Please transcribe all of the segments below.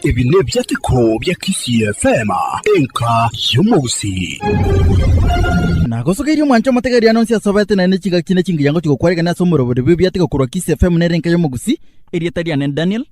Ebi nebiateko bia Kisii FM, enka y'omogusii. Nagosogeirie omwancho omotegeeri ano onsi asobete naende chigaki na chingiyango chigokwarekana ase omorobori bw'ebiateko korwa Kisii FM nere enka y'omogusii. Erieta riane Daniel.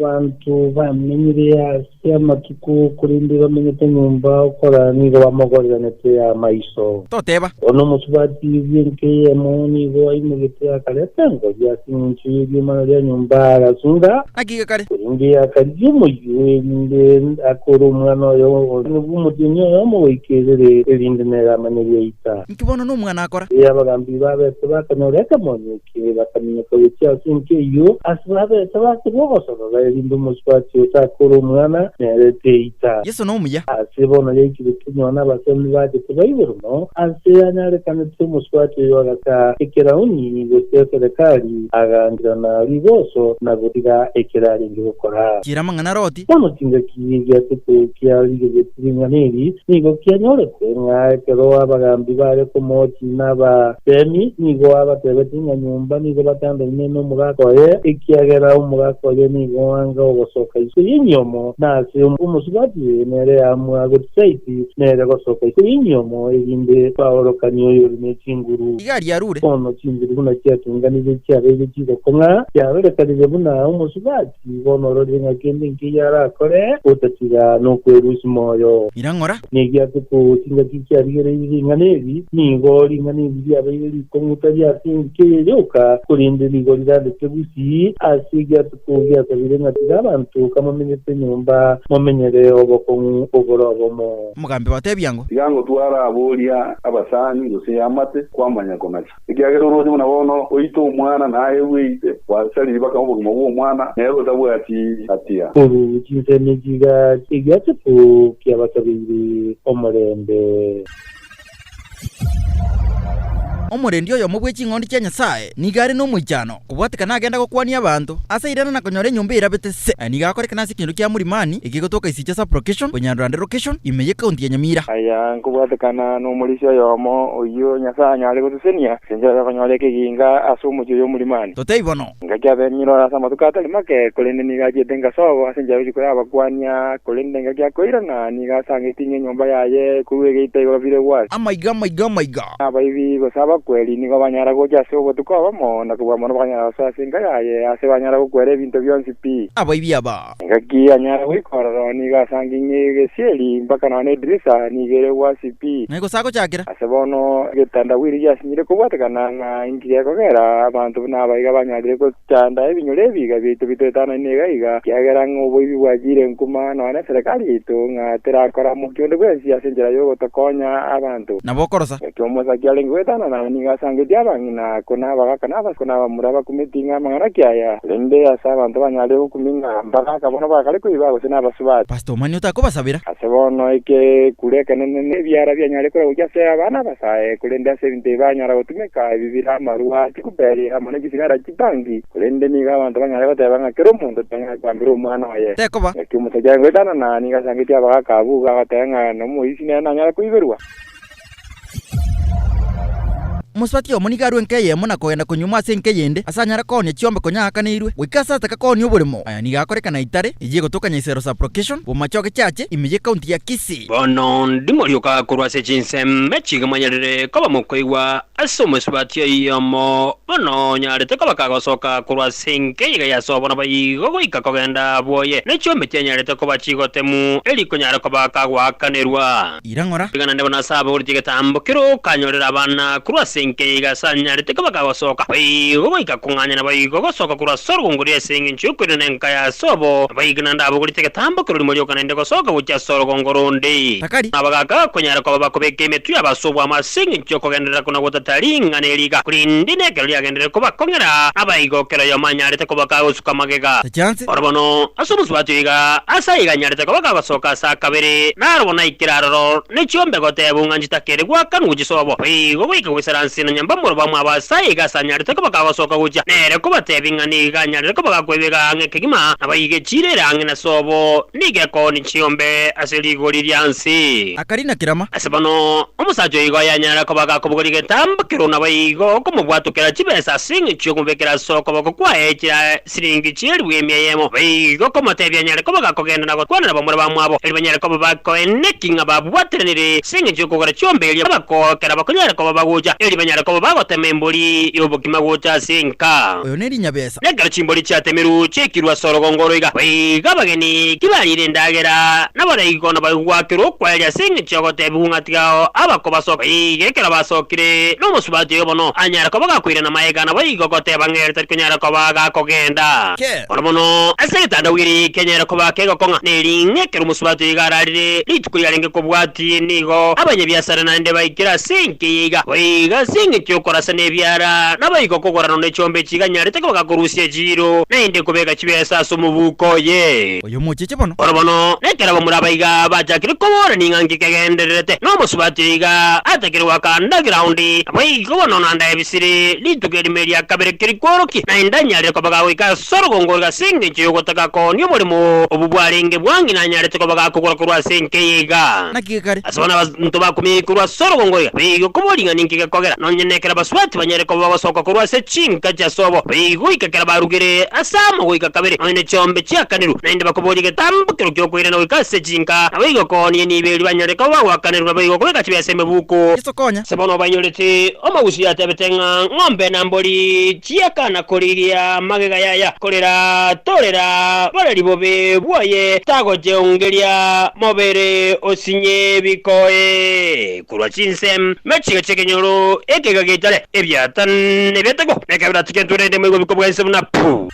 Abanto bamenyire ase amatuko, korende bamenyete nyomba okora nigo bamogoriranete amaiso. Toteeba. Korwa nomosubati bw'enka eyemo nigo aimogete akareta engori ase engencho y'eriomana ria nyomba, agasunga. Naki gekare? Korende akarigia omoyio, erinde akore omwana oye obobe omotienyi oyomo goika erere, erinde nere amanye ebiaita. Inki bono nomwana akora? Erio abagambiri babete bakanyora ekemonyo eke. Inche bakaminyoka gochia ase ense eyio, ase babete bake b'obosongo, barerinde omosubwa ase Isaka ore omwana, nere Teita. Yeso nomuya. Ase bono yaikire kenyao nabasemi baye tibaigwe rumo, ase yanyarekanete omosubati oyo agaka ekerauni gochia ase rekari, aganchera na riboso na gorira ekero arenge gokora. Chiera amang'ana Loti. Bono chingaki gia seto kia rigegeti ring'ana eri nigo kianyorete, ng'a ekero abagambi baare komoochia na abateemi, nigo abateebetie ng'a nyomba nigo batandaine nomogaka oye, ekiagera omogaka oye nigo anga ogosoka isiko y'enyomo, na ase omosubati nere aamua gotisaiti nere gosoka isiko y'enyomo, erinde baorokanie oyore ne chinguru. Igari arure. Bono chinguru buna chiatunganirie chiabeire chigoko ng'a chiarorekanire buna omosubati. Nigo nororire ing'aki ende inki eyio arakore, otatiga nokwerusia moyo. Ira ng'ora. Neri ase kogocha ingaki kiarigereirie ring'ana eri, nigo ring'ana eri riabeire rikong'utaria ase engaki eye yoka, korende nigo rirandete bosii, ase erio ase kogiasabire ng'a tiga abanto kamomenyete nyomba, momenyere obokong'u obore obomo. Omogambi batebia ng'o. Tiga ngotware abo oria abasani, gose amate, kwamanya konacha. Ekiagera orwonye buna bono oite omwana naye bw'eite gwase riba kama obogima bw'omwana nere otabwati gatia. Ebi chinsemi chigari egiacheku kiabasabeire omorembe. Omorendi oyomo bwe ching'ondi chia Nyasae nigo are nomoichano, Kobwatika nagenda gokwania abanto ase irana na konyora enyomba eirabete se. Aya nigo akorekana ase ekenyoro kia Murimani ekegotoka ase echiche Sub Location konyandora ande Location ime y'Ecounty ya Nyamira. Aya nkobwatekana n'omorisia oyomo oyio Nyasae anyare gosesenia, inche obe konyora ekeginga ase omochie oyo Murimani. Totebie bono. Ngaki abe emiroro ase amatuko atari make, korende nigo achiete engasobo ase enchera rituko y'abakwania, korende ngaki akoirana nigo asangeti ng'a enyomba yaye ekorua egeita igoro bire gwasi. Amaiga, amaiga, amaiga! Abaibi gose abakweri nigo banyara gocha ase obotuko obomo, na kobua mono bakanyara gosoa ase enka yaye, aase banyara gokwera ebinto bionsi pi. Abaibi aba. Engaki anyare goika ororo nigo asange ng'a egesieri, mpaka nonya na edirisa, nigo ere egwasi pi. Ng'ai gose agochakera? Ase bono, egetandawiri giasinyire kobwatekana ng'a inki gekogera abanto buna aba iga banyarire gotu. Chanda ebinyure ebiiga biaito bitoetananie iga iga, ekiagera ng'a oboibi bwachiire nkuma, nonya neserekari yaito, ng'a terakora mokia onde bwensi ase enchera y'ogotokonya abanto. Nabo okorosa. Naki omosake arenge goetanana aa nigo asangetie abang'ina, ko nabagaka, nabasibwa, ko nabamura, bakumeti ng'a amang'ana ki aya? Korende ase abanto banyare gokumi ng'a mbagaka bono bagakare koiba, gose nabasibwa. Pastor omani otakobasabera? Ase bono ekekuru ekenene nebiara bianyare koragokia ase abana abasae, korende ase ebinto ebi banyara gotumeka ebi bire amarwa. Chikuberi amo ne chisigara chibangi, korende nigo abanto banyare goteba ng'a kera omonto tang'ai koambera omwana oye. Tekoba. Naki omosacha aengoetanana nigo asangetie abagaka abwo, igo agoteba ng'a nomoibi nere nanyare koiberwa. Omosubati oyomo nigo arue enka eyemo na kogenda konyuomwa ase enka eyende, ase anyare koonia chiombe konya aakaneirwe, goika ase ataka koonia oboremo. Aya nigo akorekana itare eyio egotoka Nyaisero Sub-location, bw'amachoge chiache, ime y'Ecounty ya Kisii. Bono ndimorioka korwa ase chinsemo chiga manyarire koba mokoigwa Ase omosubati oyomo, bono onyarete koba kagosoka korwa ase enke iga ya sobo naboigo goika kogenda bwoye, ne chiombe chianyarete koba chigotemu, eri ikonyara koba kagoakanerwa. Ira ng'ora. Iga naende bono ase abagoretie egetambo keria okanyorera abana korwa ase enke ya iga ase anyarete koba kagosoka naboigo goika kong'anya naboigo gosoka korwa ase orogongo ria ase engencho y'okoirana nenka ya sobo, naboigo naende abagoretie egetambo keria rimo rioka naende gosoka gochia ase orogongo ronde. akari. Nabo gakakonyara koba bakobeka emetwe yabo ase obwamo ase engencho y'okogenderera kona gotata ring'ana eri iga, korende nekero riagenderere kobakong'era, aba iga o kera oyomo anyarete koba kagosuka amagega. Tachianse. Oro bono ase omosubati oyo iga, ase aiga anyarete koba kagosoka ase akabere, naro bono aikire aroro, ne chiombe gotebwa ng'a nchitakeri gwakanwa chisobo, boigo goika gwesaransi na nyomba morobamo aba ase aiga ase anyarete koba kagosoka gochia nere kobatebia ng'a nigo iga anyarete koba gakoeba egaa ng'a ekegima, nabo aiga echiira ere ang'e na sobo. Nigo ekooni chi'ombe ase rigori ria nse. Akarina kerama. Ase bono, omosacha oyo igo yanyare koba gakobugwa rigetambo kerwo nabo igo okomobwatokera chibesa ase engencho y'okomobekera ase okoboko kwaye chira siringi chi'eribu emia eyemo, obe igo okomotebia anyare koba gakogenda na gokwana nabamura bamwabo, erio banyare koba bakoenena ki ng'a babwateranire ase engencho y'okogora chi'ombe eria bakookera bakonyare koba bagocha, erio banyare koba bagotema embori y'obokima gocha ase enka. Oyo ne rinyabesa. Na ekero chimbori chiatemirwe chiaikirwe ase orogongo oro iga, boigo abageni tibariire endagera, naborai kono bagigwakerwa okwaeria ase engencho y'ogotebigwa ng'a tigao abakobasoka. Boigo ekero basokire, nomosubati oyo bono anyare koba gakoirana maega, naboigo goteba ng'a ere tari konyara koba gakogenda. Bono bono, ase egetanda bwiri kianyare koba kegokong'a, ner'ing'e ekero omosubati oyo iga ararire, rituko riarenge kobwatwa. Ki nigo abanyabiasara naende baikire ase enka eye iga? Boigo ase engencho y'okorasana ebiara, naboigo okogorana ne chombe echi iganyarete kobaka korusia echiiro, naende kobeka chibesa ase omobuko oye. Oyo mocheche bono. Bono bono, nekero abamura aba iga bachakire koborania ng'a nki kegendererete, nomosubati oyo iga atakire goaka ndagera onde, naboigo bono nanda ebisaku. Siri rituko erimo eria kabere kerikworokia, na indanyarire kobaga goika ase orogongo ore ase engencho y'ogotaka koonia omoremo obwo bwarenge bwange nanyarete kobaga kogora korwa ase enka eye iga. Naki gekare, Ase bono abanto bakumia korwa ase orogongo iga baye igo kobua ring'ana inki gekogera, nonya nekero basubati banyare koba bagosoka korwa ase chinka chia sobo, baye igo goika ekero barugire ase amo goika kabere, nonya ne chiombe chiakanirwe, naende bakoboria egetambokero ki'okoirana goika ase chinka, naboigo koonia nibo erio banyare koba bagwakanerwa, naboigo kobeka chibe ase emebuko. Yeso konya. Ase bono obainyorete omogusii atebete ng'a ng'ombe na mbori chiakana korigia magega yaya, korera torera boreri bobe bwaye, tagocheongeria mobere osinye bikoe korwa chinse, na chiga chi'ekenyoro ekega giaitare, ebiata, na ebiatekwa, na ekabira tiketwe rende moigobikwa bwa ense buna pu.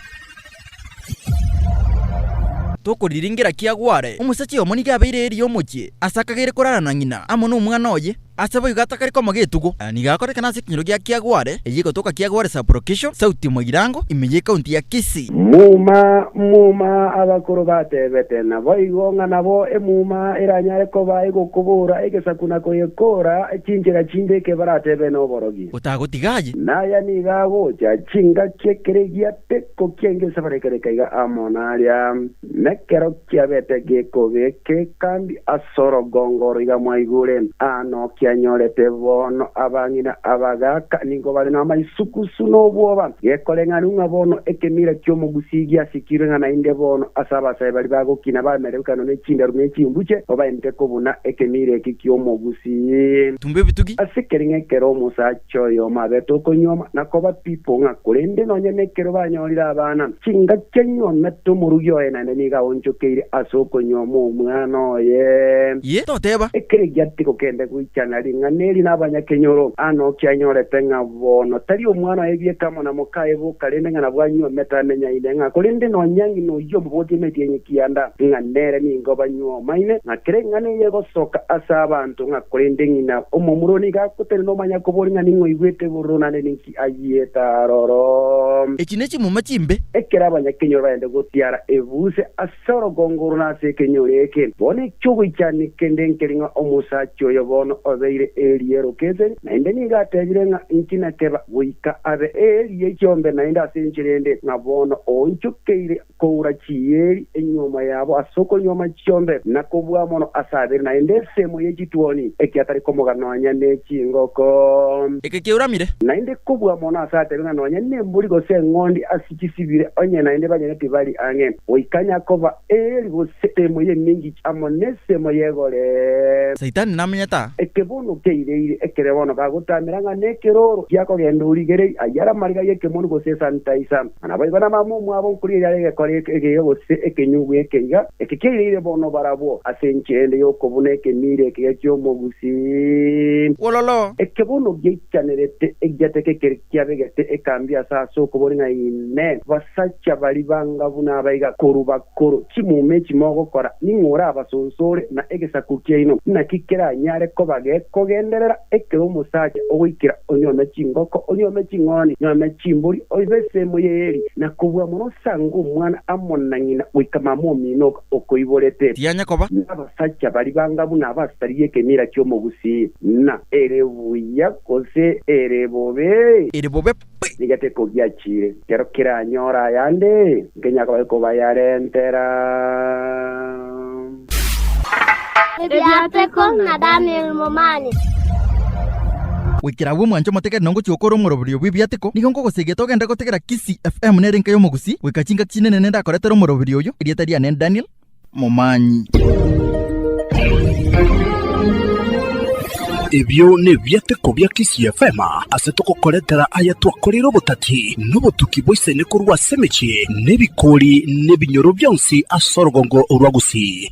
Tokoriringera ki agware? Omosacha oyomo nigo abeire eeri y'omochie, ase akagere korara na ng'ina, amo nomwana oye, ase boigo atakare koma getugo. Nigo akorekana ase ekenyoro gia Kiagware, eye egotoka Kiagware Sub-Location, Sauti Moirango, ime y'ekaunti ya Kisii. Muma, muma, abakoro batebete naboigo ng'a nabo emuma eranyare koba egokobora egesaku na koyekora chinchera chinde eke baratebe noborogi. Otagotiga aye. Naya nigo agocha chingaki ekeregia. Gekokiengesa barekareka iga amo naria, nekero kiabete gekogeke, kandi as'orogongo oro iga mwaigure, aa nokianyorete bono, abang'ina abagaaka nigo bare namaisukusu nobwoba, gekoreng'anigwa ng'a bono ekemira ki'omogusi giasikirwe, ng'a naende bono as'abasae baria bagokina bamerwe ekano ne chindaru ne chimbuche, babaenteke buna ekemira eki ki'omogusi. Tumbe ebitugi. Asekeria ng'ekero omosacha. chi'oyomo abete okonyuoma, na koba pi pong'a, korende nonya nekero banyorire abana, chingaki anyuomete omorugi oye naende nigo aonchokeire ase okonyuoma omwana oye. Inye toteba. Ekere giatigo kende goichana ring'ana eri nabanyakenyoro, aa nokia anyorete ng'a bono tari omwana oye bieka amo na mokaye boka, rende ng'a nabwo anyuomete amenyaine ng'a korende nonya ng'ina oyio omobotie emetienyi kianda, ng'a nere nigo banyuomaine, ng'a kera eng'ana eyio egosoka ase abanto. Nto ng'a korende ng'ina omomura oo nigo agotenena omanya kobori ng'a ning'o aigwete ebororo naende ninki ayiete aroro. Echi ne chimuma chimbe. Ekero abanyakenyoro barende gotiara ebuse ase orogongo oro na ase ekenyoro eke, bono eki'ogoichania kende nkeri ng'a omosacha oyo bono obeire eriero keseri, naende nigo atebire ng'a inki nakeba, goika abe eriiyo ekiombe naende ase enchera ende, ng'a bono oonchokeire. koura chieri enyuoma yabo ase okonyuoma chiombe, na kobua mono ase abere, naende esemo ye chituoni ekiatari komoga nonya ne chingoko. Eke keuramire. Naende kobua mono ase atebe ng'a nonya nembori gose eng'ondi ase chisibire, onye naende banyene tibari ang'e, goika nyakoba eeri gose esemo y'emingichi amo nesemo y'egore. Saitani namenyete aa. Eke bono keireire ekere bono gagotamera ng'a nekeroro, tiakogenda origereri, ayare amariga y'ekemoni gose esanitaisa. na naboigo nabambe omwabo nkoria eyare egekori ekegega gose ekenyugwa ekeiga, eke keireire bono barabwo ase enchera ende y'okobuna ekemiiri ekeiga ki'omogusi. Wololo! Eke bono giaichanerete egiateka ekere kiabegete ekambi ase ase okobori ng'a, Inee! Basacha baria banga buna aba iga korwa bakoro, chimuma echi mogokora, ning'o orabasonsore, na egesaku kiaino naki keranyare kobagekogenderera? Ekero omosacha ogoikera onyuome chingoko, onyuome ching'ondi, onyuome chimbori, oibe esemo y'eeri, na kobua mono osange omwana amo na ng'ina goika mama omino oka okoiborete. Tianya koba. Nabasacha baria banga buna abasari y'ekemira ki'omogusii, na ere buya gose ere bobe? Ere bobe. Nigo tekogiachire, ekero keranyore ayande, nkenyare koba gekobayarentera. Ebiateko na Danieli momanye. Goikera agwo mwanche omotegete na ongochia gokora omoroberio bw'ebiateko, nigo nkogosegete ogende gotegera Kisii FM nere enka y'Omogusii, goika chingaki chinene nende akoretere omoroberio oyo, erieta riane Daniel, momanyi. Ebio nebiateko bia Kisii FM ase togokoretera aya twakoreire obotati na obotuki bwa isani korwa ase emechie na ebikori na ebinyoro bionsi ase orogongo rwa Gusii.